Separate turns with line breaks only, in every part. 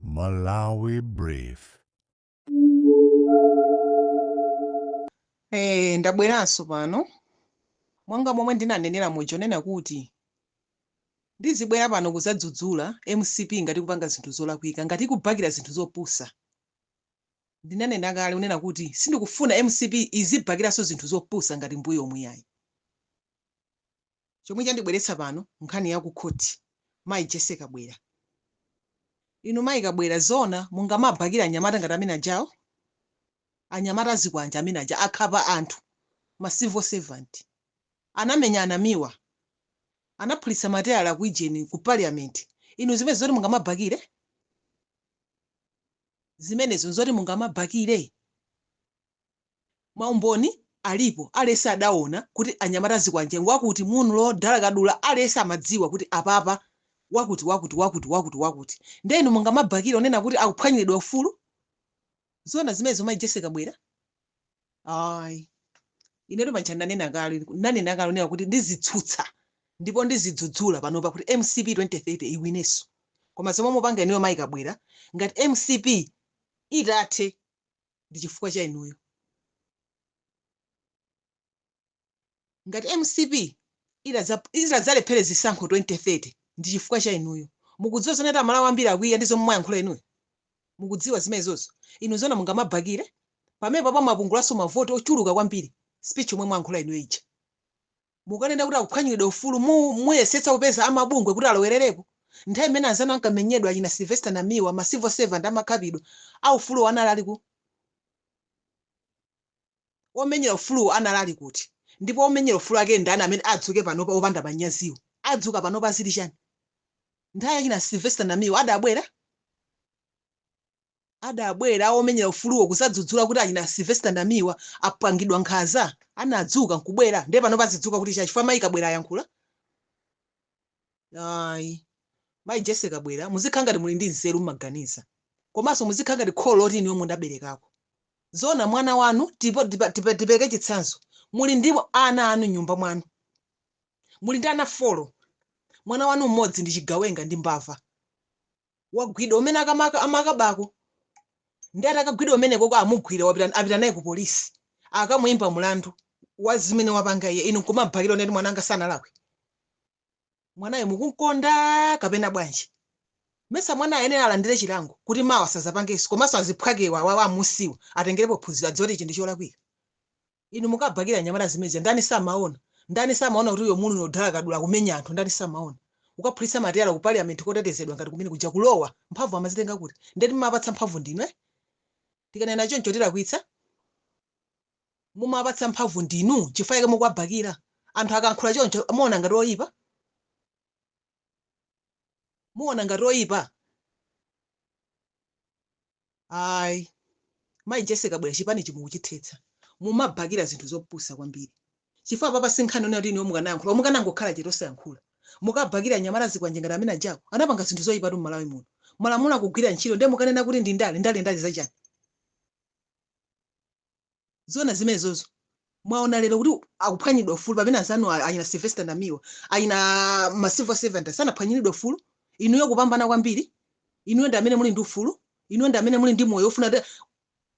Malawi
Brief. Eh, ndabweranso pano monga momwe ndinanenera muja kunena kuti ndizibwera pano kuzadzudzula mcp ngati ikupanga zinthu zolakwika ngati ikubakira zinthu zopusa ndinanena kale kunena kuti sindikufuna mcp izibakiranso zinthu zopusa ngati mbuyo umu ayi chomwe chandibweretsa pano nkhani ya ku khoti mayi Jessie Kabwila. Inu mayi Kabwila zoona mungamabakire anyamata ngati amene ajawo? Anyamata azikwanje amene aja akhapa anthu ma civil servant. Anamenya a Namiwa. Anaphulitsa mateyala ku ijeni ku parliament. Inu zimenezo nzoti mungamabakire? Zimenezo nzoti mungamabakire? Maumboni alipo aliyese adawona kuti anyamata azikwanje ngwakuti Munlo Dala Kadula aliyese amadziwa kuti apapa wakuti wakuti wakuti wakuti wakuti nde inu mungamabakile kunena kuti akuphwanyilidwa ufulu? Zoona zimenezo mai Jessie Kabwila? Ayi inetu paja ndanena kale ndinanena kale kunena kuti ndizitsutsa ndipo ndizidzudzula panopa kuti mcp 2030 iwineso koma zomwe mukupanga inuyo mai Kabwila ngati mcp itathe. ndi chifukwa cha inuyo ngati mcp itadza- itadzalephere zisankho 2030 ndi chifukwa cha inuyo mukudziwa zonena kuti amalawi ambiri akwiya ndi zomwe mwayankhula inuyo mukudziwa zimenezozo inu zona mungamabakire pamene apapa mwapungulanso mavoti ochuluka kwambiri speech yomwe mwayankhula inuyo ija Mukanena kuti akuphwanyiridwa ufulu mu muyesetsa kupeza amabungwe kuti alowererepo? Nthawi imene anzanu ankamenyedwa achina Sylvester Namiwa, ma civil servant amakhapidwa, a ufuluwo anali ali kuti? Omenyera ufuluwo anali ali kuti? Ndipo omenyera ufulu ake ndani amene adzuke panopa opanda manyaziwo? Adzuka panopa zili chani? Nthawi yachina Sylvester Namiwa adabwera? adabwera omenyera ufuluwo kuzadzudzula kuti achina Sylvester Namiwa apangidwa nkhanza, anadzuka nkubwera ndiye panopa azidzuka kuti chani chifukwa mayi Kabwila ayankhula? Ayi. Mayi Jessie Kabwila muzikhala ngati muli ndi nzeru mumaganiza komanso muzikhala ngati kholo loti inuyo mudaberekako. Zoona mwana wanu tipo- tipa- tipa- tipereke chitsanzo muli ndi ana anu m'nyumba mwanu muli ndi ana folo mwana wanu mmodzi ndi chigawenga ndi mbava wagwidwa kumene akamaka amakabako ndi atakagwidwa kumeneko kwa amugwira wapita apita naye ku polisi akamuyimba mulandu wa zimene wapanga iye inu nkumabakira kunena kuti mwananga sanalakwe mwanayo mukunkonda kapena bwanji mesa mwana ayenera alandire chilango kuti mawa sazapangenso komanso aziphwakewa wawa wa amumsiwa atengerepo phunziro adziwe kuti ichi ndi cholakwika Inu mukabhakira anyamata zimenezi ndani samaona? Ndani samaona kuti uyo munthu ni odala kadula kumenya anthu ndani samaona? Kukaphulitsa mateyala ku parliament kotetezedwa ngati kumene kuja kulowa? Mphamvu amazitenga kuti? Nde timawapatsa mphamvu ndinu eh? Tikanena choncho tilakwitsa? Mumawapatsa mphamvu ndinu chifukwa chake mukuwabhakira. Anthu akankhula choncho muona ngati oyipa? Muona ngati oyipa? ayi mayi jese kabwira chipanichi mukuchithetsa mumabhakira zinthu zopusa kwambiri chifukwa apapa sinkhani onena kuti inuyo mukanayankhula mukanangokhala chete osayankhula mukabhakira anyamata azikwanje ngati amene ajawo anapanga zinthu zoyipatu m'malawi muno malamulo akugwira ntchito ndiye mukanena kuti ndi ndale ndale ndale zachani Zoona zimenezozo. Mwaona lero kuti akuphwanyiridwa ufulu pamene anzanu a- achina Sylvester Namiwa, achina ma civil servant sanaphwanyiridwe ufulu. Inuyo kupambana kwambiri. Inuyo ndi amene muli ndi ufulu. Inuyo ndi amene muli ndi moyo ofuna kuti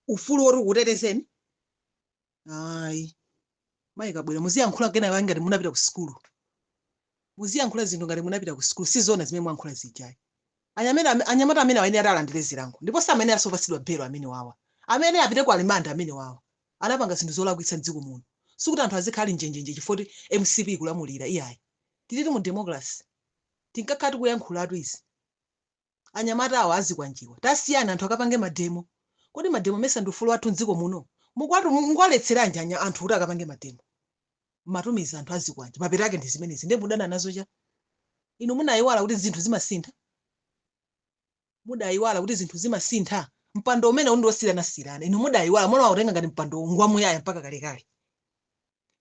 ufulu woti ukutetezeni. Ayi. Mayi Kabwira muziyankhula kena kake ngati munapita ku sukulu. Muziyankhula zinthu ngati munapita ku sukulu. Si zoona zimene mwayankhula zija ayi. Anyameta, anyamata amenewa ayenera kuti alandire zilango ndipo samayeneranso kupatsidwa belo amenewawa. Amayenera apite ku rimandi amenewawa. Anapanga zinthu zolakwitsa m'dziko muno. Sikuti anthu azikhala ali njenjenje chifukwa kuti mcp ikulamulira iyayi. Tilitu mu democracy. Tinkakhala tikuyankhulatu izi. anyamata awa azikwanjewa tasiyani anthu akapange mademo kodi mademo mesa ndi ufulu wathu mdziko muno mukuwatu mukuwaletseranji anya anthu kuti akapange mademo mmatumiza anthu azikwanje mapeto ake ndi zimenezi ndiye mudana nazo chani inu munayiwala kuti zinthu zimasintha mudayiwala kuti zinthu zimasintha mpando umeneu ndi wosiranasirana inu mudayiwala mumautenga ngati mpando ngwamuyaya mpaka kalekale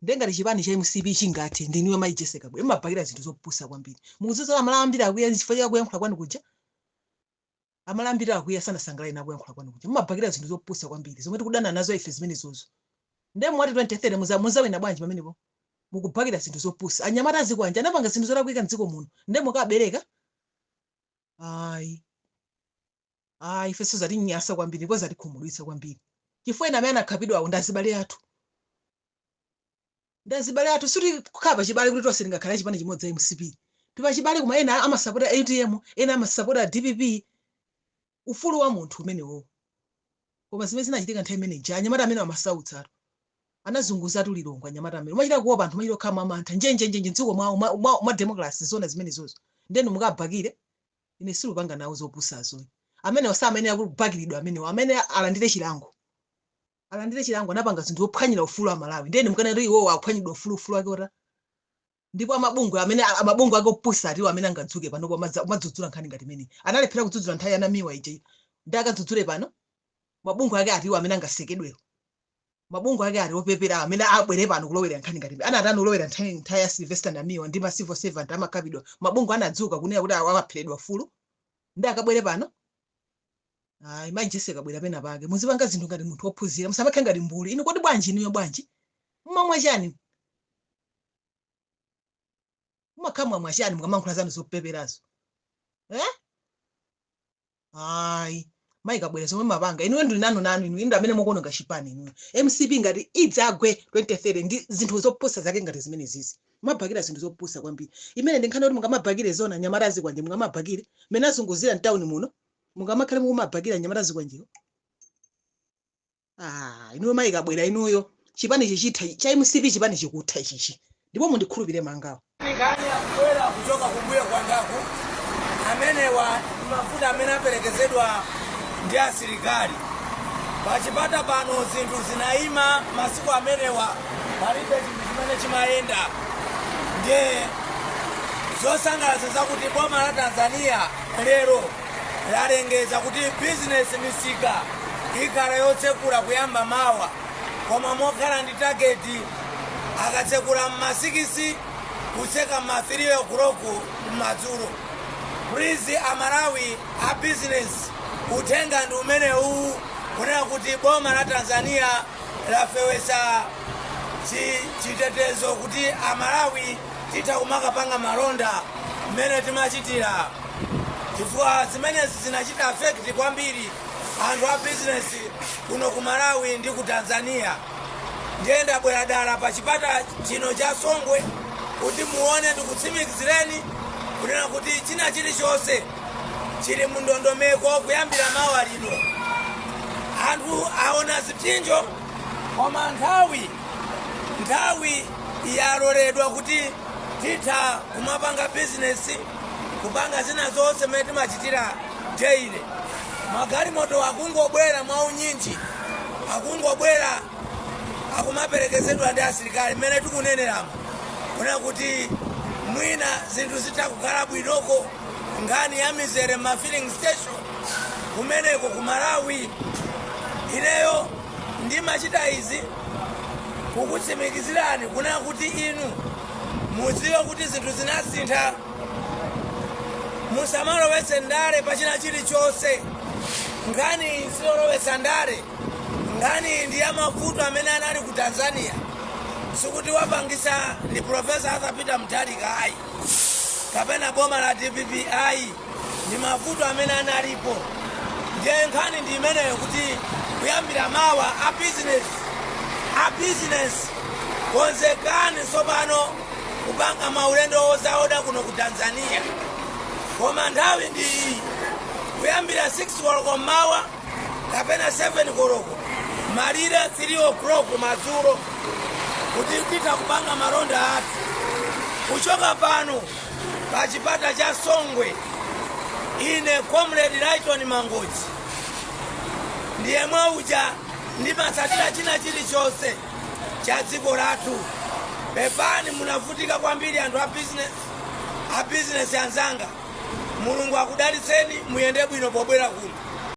nde ngati chipani cha mcp chingathe ndinuyo mayi jese kabwira mumabakira zinthu zopusa kwambiri mukudziwa amalawi ambiri akwiya chifukwa cha kuyankhula kwanu kuja amalawi ambiri akwiya sanasangalale nako kuyankhula kwanu kuja mumabakira zinthu zopusa kwambiri zomwe tikudana nazo ife zimenezozo nde mwati 2030 muza- muzawina bwanji pamenepo mukubakira zinthu zopusa anyamata azikwanje anapanga zinthu zolakwika mdziko muno nde mukabakira ayi ah ifenso zatinyasa kwambiri ndipo zatikhumudwitsa kwambiri chifukwa ena amene anakhapidwawo ndi azibale athu ndi azibale athu sikuti kukhala pachibale kuti tonse tingakhale achipani chimodzi a mcp tipachibale koma ena amasapota utm ena amasapota dpp ufulu wa munthu umenewowo koma zimene zinachitika nthawi imene ija anyamata amene amasautsa anthu anazunguzatu lilongwe anyamata amene umachita kuopa anthu umachita kukhala mwamantha njenjenjenje mdziko mwawo mwa- mwa- mwa democracy zona zimenezozo nde inu mukabhakire Ine sindipanga nawo zopusazo. Amenewo samayenera kubakiridwa amenewo. Amayenera alandire chilango. Alandire chilango anapanga zinthu zophwanyira ufulu aMalawi. Ndiye inu mukanena kuti iwowo aphwanyiridwa ufulu ufulu wake uti. Ndipo amabungwe amene amabungwe ake opusa atiwo amene angadzuke pano kwa madza- kumadzudzula nkhani ngati imeneyi. Analephera kudzudzula nthawi ya Namiwa ija. Nde akadzudzule pano. Mabungwe ake atiwo amene angasekedwewo. mabungwe ake ali opepera amene abwere pano kulowerera nkhani ngati imeneyi. anatani kulowera nthawi ya sylvester namiwa ndi ma civil servant amakapidwa mabungwe anadzuka kunena kuti awa apheredwa ufulu nde akabwere pano ayi mai jessie kabwila pena pake muzipanga zinthu ngati munthu wophunzira musamakhale ngati mbuli inu kodi bwanji inuyo bwanji mmamwa chani mumakhala mwamwa chani mukamayankhula zanu zopeperazo eh? ayi mayi kabwila zomwe mumapanga inuyo ndili nanu nanu inu inu amene mukuononga chipani inuyo mcp ngati idzagwe 2030 ndi zinthu zopusa zake ngati zimene zizi mumabhakira zinthu zopusa kwambiri imene ndi nkhani yoti mungamabhakire zoona anyamata azikwanje mungamabhakire mmene azunguzira mtawuni muno mungamakhale mukumabhakira anyamata azikwanjewo ah inuyo mayi kabwila inuyo chipani chichitha cha mcp chipani chikutha ichichi ndipo mundikhulupire ma tanker awa akubwera
kuchoka kumbuyo kwangaku amenewa ndi mafuta amene aperekezedwa ndi asilikali pachipata pano zinthu zinayima masiku amenewa palibe chinthu chimene chimayenda ndiye zosangalatsa zakuti boma la tanzania lero lalengeza kuti bizinesi misika ikhala yotsekula kuyamba mawa koma mokhala ndi tageti akatsekula m'ma sikisi kutseka m'ma 3 o'clock m'madzulo please amalawi a bizinesi uthenga ndi umenewu kunena kuti boma la tanzania lafewesa chitetezo kuti amalawi titha kumakapanga malonda mmene timachitira chifukwa zimenezi zinachita affect kwambiri anthu a bizinesi kuno ku malawi ndi ku tanzania ndiye ndabwera dala pa chipata chino cha songwe kuti muone ndikutsimikizireni kunena kuti china chilichonse chili mu ndondomeko kuyambira mawa lino anthu aona zipsinjo koma nthawi nthawi yaloledwa kuti titha kumapanga bizinesi kupanga zina zonse mmene timachitira daily magalimoto akungobwera mwaunyinji akungobwera akumaperekezedwa ndi asilikali mmene tikuoneramo kunena kuti mwina zinthu zitha kukhala bwinoko nkhani ya mizere m'ma filling station kumeneko ku malawi ineyo ndimachita izi kukutsimikizirani kunena kuti inu mudziwe kuti zinthu zinasintha musamalowetse ndale pa china chilichonse nkhani iyi siyolowetsa ndale nkhani iyi ndi ya mavuto amene anali ku tanzania sikuti wapangisa ndi profesa arthur peter mutharika ayi kapena boma la dpp ayi ndi mavuto amene analipo ndiye nkhani ndi imeneyo kuti kuyambira mawa a business a business konzekani tsopano kupanga maulendo ozaoda kuno ku tanzania koma nthawi ndi iyi kuyambira 6 koloko mmawa kapena 7 koloko malire 3 o'clock madzulo kuti titha kupanga malonda athu kuchoka pano pa chipata cha songwe ine comrade lighton mangochi ndiye mwaudya ndimatsatira china chilichonse cha dziko lathu pepani munavutika kwambiri anthu a business anzanga mulungu akudalitseni muyende bwino pobwera kuno